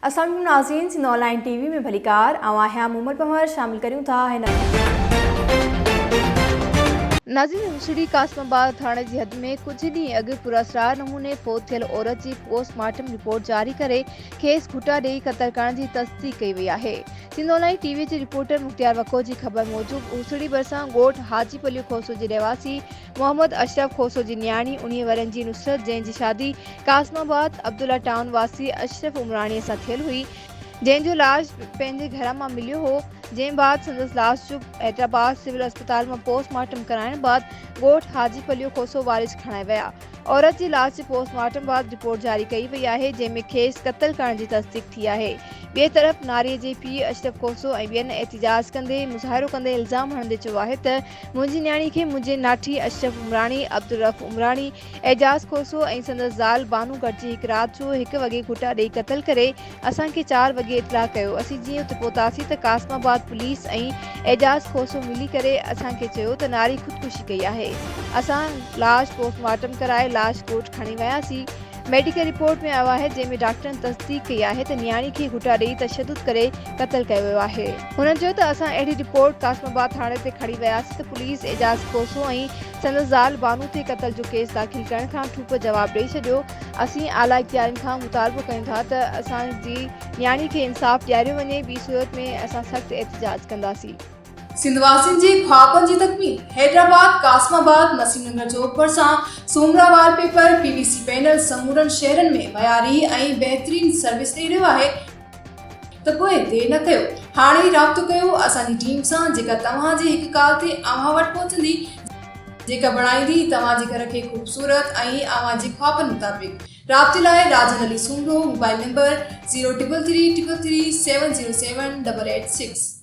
اسلام عليڪم ناظرين Sindh online T V ۾ ڀليڪار آئون آهيان مومل پنهور شامل ڪريون ٿا هن ناظرين هوسڙي قاسم آباد ٿاڻي جي حد ۾ ڪجهه ڏينهن اڳ پراسرار نموني فوت ٿيل عورت جي پوسٽ مارٽم رپورٽ جاري ڪري کيس گهٽا ڏئي قتل ڪرڻ جي تصديق ڪئي وئي آهي Sindh online T V جي رپورٽر مختيار وڪو جي خبر موجب هوسڙي ڀرسان ڳوٺ حاجي پليو کوسو جي رهواسي محمد اشرف کوسو جي نياڻي انهيء ورهين جي نصرت جنهن جي شادي قاسم آباد عبدالله ٽائون واسي اشرف عمراڻيء سان ٿيل هئي جنهن جو لاش پنهنجي گهر مان مليو هو جنهن بعد سندس لاش جو حيدرآباد سول اسپتال مان پوسٽ مارٽم ڪرائڻ بعد ڳوٺ حاجي پليو کوسو وارث کڻائي ويا عورت جي لاش جي پوسٽ مارٽم بعد رپورٽ جاري ڪئي وئي آهي جنهن ۾ کيس قتل ڪرڻ جي تصديق ٿي آهي ٻئي طرف ناري جي پيء اشرف کوسو ۽ ٻين احتجاج ڪندي مظاهرو ڪندي الزام هڻندي چيو آهي ته منهنجي نياڻي کي منهنجي ناٺي اشرف عمراڻي، عبدالرؤف عمراڻي، اعجاز کوسو ۽ سندس زال بانو گڏجي هڪ رات جو هڪ وڳي گهٽا ڏئي قتل ڪري اسان کي چار وڳي اطلاع ڪيو اسين جيئن اتي پهتاسين ته قاسم آباد پوليس ۽ اعجاز کوسو ملي ڪري اسان کي چيو ته ناري خودڪشي ڪئي آهي اسان لاش پوسٽ مارٽم ڪرائي لاش ڳوٺ کڻي وياسين ميڊيڪل رپورٽ ۾ آيو آهي جنهن ۾ ڊاڪٽرن تصديق ڪئي آهي ته نياڻي کي گهوٽا ڏئي تشدد ڪري قتل ڪيو ويو آهي. هن چيو ته اسان اهڙي رپورٽ قاسم آباد ٿاڻي تي کڻي وياسين ته پوليس اعجاز کوسو ۽ سندس زال بانو تي قتل جو ڪيس داخل ڪرڻ کان ٺوپ جواب ڏئي ڇڏيو اسين اعليٰ اختيارين کان مطالبو ڪيون ٿا ته اسان جي نياڻي کي انصاف ڏياريو وڃي ٻي صورت ۾ اسان سخت احتجاج ڪنداسين. سنڌ واسين جي خوابن جي تڪميل حيدرآباد قاسم آباد نسيم نگر چوڪ ڀرسان Soomra wallpaper P V C panel سمورن شهرن ۾ معياري ۽ بهترين سروس ڏئي رهيو آهي ته پوء دير نه ڪيو هاڻي ئي رابطو ڪيو اسان جي ٽيم سان جيڪا توهان جي هڪ ڪال تي اوهان وٽ پهچندي جيڪا بڻائيندي توهان جي گهر کي خوبصورت ۽ اوهان جي خوابن مطابق رابطي لاء Rajan Ali Soomro mobile number zero triple three triple three seven zero seven double eight six